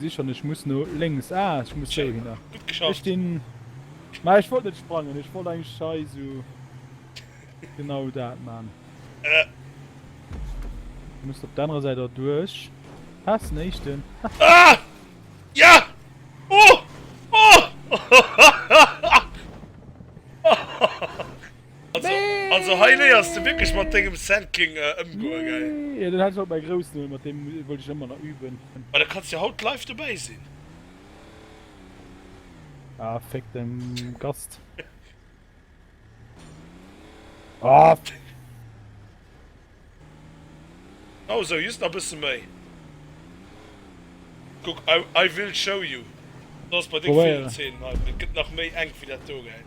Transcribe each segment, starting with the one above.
Sicher nicht, ich muss nur links. Ah, ich muss hier hin. Gut geschafft. Ich den. Na, ich wollte nicht sprangen, ich wollte eigentlich scheiße. Genau da, Mann. Äh. Du musst auf der anderen Seite durch. Pass nicht denn. Ah! Ja! Oh! Oh! Also hei léiers de wierklech mat dengem Sampling ëmgoen, gell? Jo, deen hat ech op mäi Groussen huel, mat deem wollt ech ëmmer nach üben. Ma da kanns jo haut live dobäi sinn. Ah, féck den Gast. Ah! Genau sou, just nach bëssen méi. Kuck, I will show you. Probéieren. Et gëtt nach méi enk wéi dat do, gell?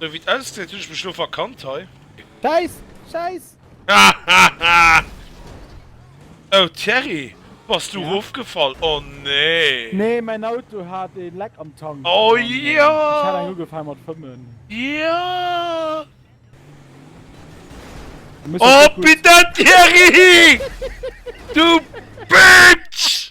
Sou wéi et ausgesäit hunn ech mech lo verkannt hei. Schäiss! Schäiss! Oh Thierry, bass du erofgefall? Oh nee! Nee, mäin Auto hat ee Leck am Tank. Oh jo! Ech hat eng ugefaang mat fëmmen. Jo! Oh pitten Thierry! Du Bitch!